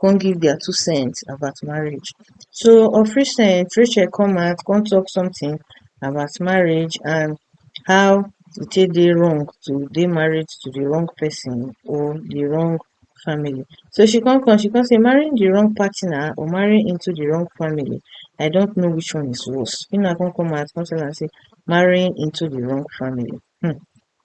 come give their two cent about marriage. So of recent, Rachel come out, come talk something about marriage and how e take dey wrong to dey married to the wrong person or the wrong family. So she come come, she come say marrying the wrong partner or marrying into the wrong family, I don't know which one is worse. Una come come out, come tell am say marrying into the wrong family. Hmm.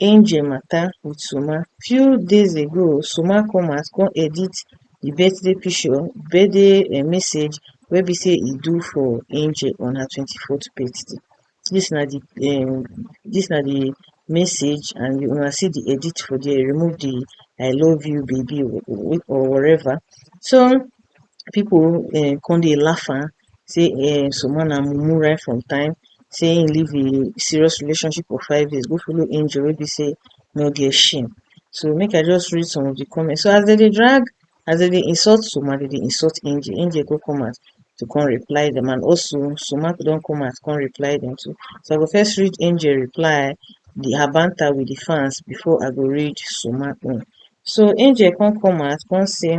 Angel matter with Suma. Few days ago, Suma come out come edit the birthday picture, birthday eh, message wey be say e do for Angel on her 24th birthday. This na the um, this na the message and you una see the edit for there. Remove the I love you baby or, or whatever. So people uh, come dey laugh am sey um some one na mumu right from time sey im leave im serious relationship of five years go follow angel wey be sey no get shame so make I just read some of the comment so as dem dey drag as dem dey insult soma dem dey insult angel angel go come out to come reply dem and also soma don come out come reply dem too so I go first read angel reply the her banter with the fans before I go read soma own so angel come come out come sey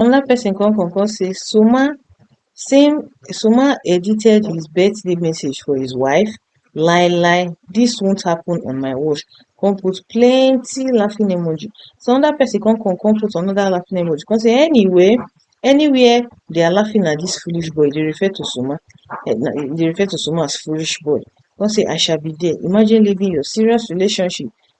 Another person come come come say Suma same Suma edited his birthday message for his wife lie lie this won't happen on my watch come put plenty laughing emoji so another person come come come put another laughing emoji come say anyway anywhere they are laughing at this foolish boy they refer to Suma eh, they refer to Suma as foolish boy come say I shall be there imagine leaving your serious relationship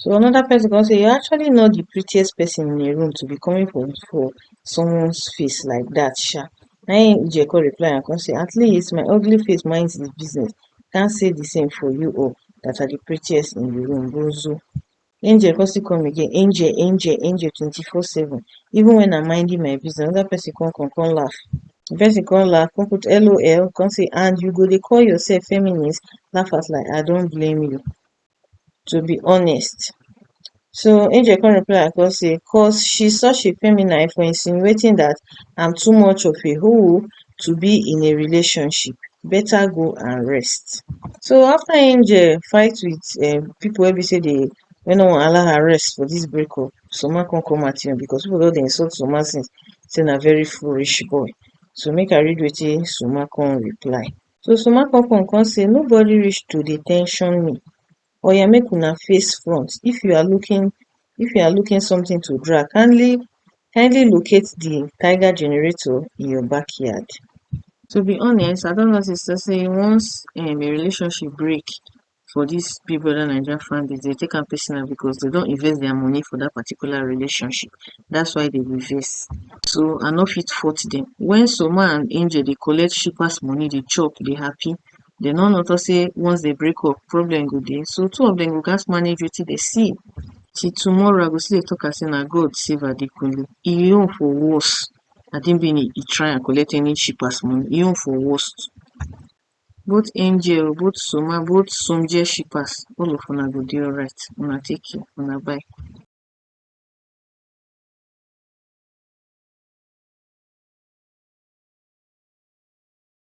So another person come say, you actually know the prettiest person in a room to be coming for, for someone's face like that, sha. Na him Ijeko reply and come say, at least my ugly face minds the business. Can't say the same for you all that are the prettiest in the room, bozo. Angel come still come again, angel, angel, angel 24-7. Even when I'm minding my business, another person come, come, come laugh. The person come laugh, come put LOL, come say, and you go dey call yourself feminist, laugh at like, I don't blame you. to be honest so angel come reply am come say cos she such a feminine for insinuating dat am too much of a hoe to be in a relationship beta go and rest so after angel fight with um pipo wey be say dey wey no wan allow her rest for dis break up Soma come come at him because pipo don dey insult Soma since say na very foolish boy so make I read wetin Soma come reply Sosomakokon come say nobody reach to dey tension me oya make una face front if you are looking if you are looking something to drag kindly kindly locate the tiger generator in your backyard. To be honest I don notice say once um a relationship break for dis big brother naija fan base dey take am personal because dey don invest dia money for dat particular relationship dats why dey dey vex so I no fit fault dem wen Soma and Angel dey collect shippers money dey chop dey happy dey no know talk say once dey break up problem go dey so two of dem go gas manage wetin dey see till tomorrow I go still dey talk am say na God save Adekunle im own for worse Adebimpe e try and collect any shippers money im own for worst Both angel o, both soma, both somjie shippers, all of una go dey alright. Una take care, una bye.